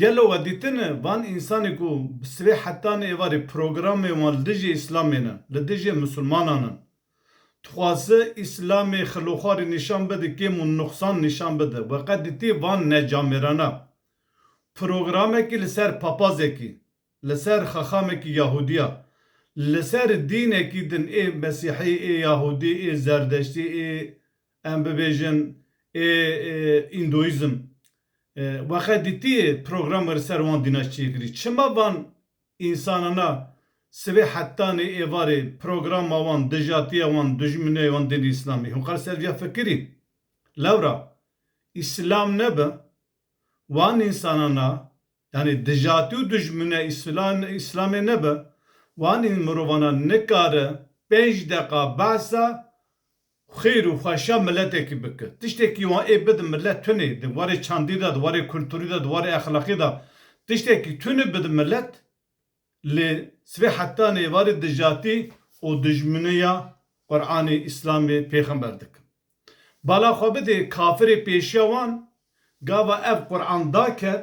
Gelo we dîtine van însanê ku bi sivê heta ne êvarê programê wan li dijî îslamê ne, li dijî misilmanan in. Dixwaze îslamê xiloxwarî nîşan bide, kêm û nuxsan nîşan bide. We qet dîtî van necamêrana programekî li ser papazekî, li ser xaxamekî yahûdîya, li ser dînekî din ê mesîhî, ê yahûdî, ê zerdeştî, ê Em bibêjin ê Îndoîzm wexe dîtiyê programê li ser wan dîna çêkirî. Çima van însanana sibê hetanê êvarê programa wan, dijatiya wan, dijminê wan dînê Îslamî? Hûn qal ser vîya fikirî? Lewra Îslam nebi wan însanana yanî dijatî û dijmine Îslamê nebi wan mirovana nikare pênc deqa behsa Xêr û xweşiya miletekî bike. Tiştekî wan ê bide milet tunê, di warê çandî de, di warê kulturî de, di warê exlaqî de. Tiştekî tunê bide milet. Lê sibê heta nê êvarê dijatî û dijminiya Quranê, Îslamê, pêxember dikin. Bala xwe bidê kafirê pêşiya wan, gava ev Quran daket,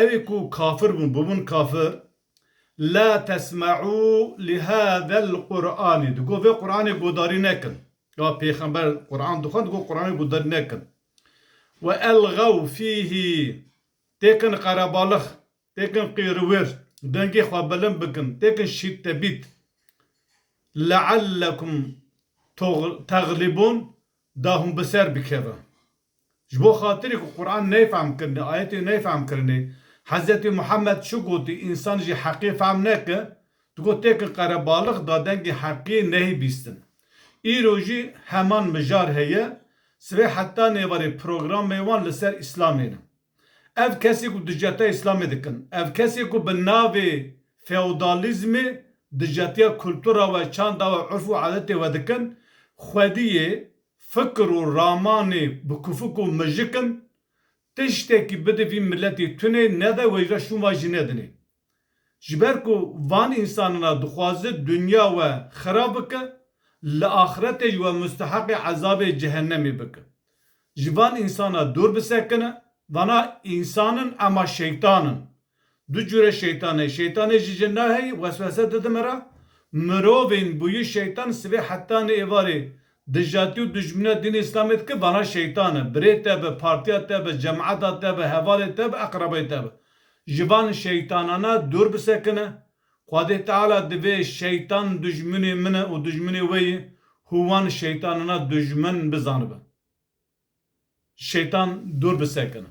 Ewî ku kafir bûn, bûbûn kafir, La tesme'û li hâzel Qur'anî, digot vê Qur'anê guhdarî nekin. Ya pêxember Qur'an dixwend, digot Qur'anê guhdarî nekin. Ve elxew fîhî, têkin qerebalix, têkin qîrwir, dengê xwe bilind bikin, têkin şîttebît. Le'ellekum teglibûn, da hûn bi ser bikevin. Ji bo xatirê ku Quran neyfehm kirine, ayetê neyfehm kirine, Hezretê Muhammed çi gotî, însan jî heqê fehm neke, tu got têkin qerebalix da dengê heqê nehî bîstin. Îro jî heman mijar heye, sibê heta nêvarê programê wan li ser Îslamê ne. Ev kesê ku dijatiya îslamê dikin, ev kesê ku bi navê feodalîzmê dijatiya kultura we, çanda we, urf û adetê we dikin, xwedî yê fikir û ramanê bikufik û mijik in, tiştekî bide vî miletê tunê nede wejra şûn vaj jî nedinê. Ji ber ku van însanan a dixwaze dinya we xera bike, li axiretê jî we musteheqê ezabê cehennemê bike. Ji van însanan dûr bisekine, vana însan in ema şeytan in. Du cure şeytan heye, şeytanê ji jin re heye, weswese dide me re, mirovên bûye şeytan sivê hetanê êvarê dijatî û dijmine dînê îslamê dike, vana şeytan e, birê te be, partiya te be, cemata te be, hevalê te be, eqrebeyê te be. Ji van şeytanana dûr bisekine. Xwedê Teala divê şeytan dijminê min e û dijminê wê ye hû wan şeytanana dijmin bizanibin. Ji şeytan dûr bisekine.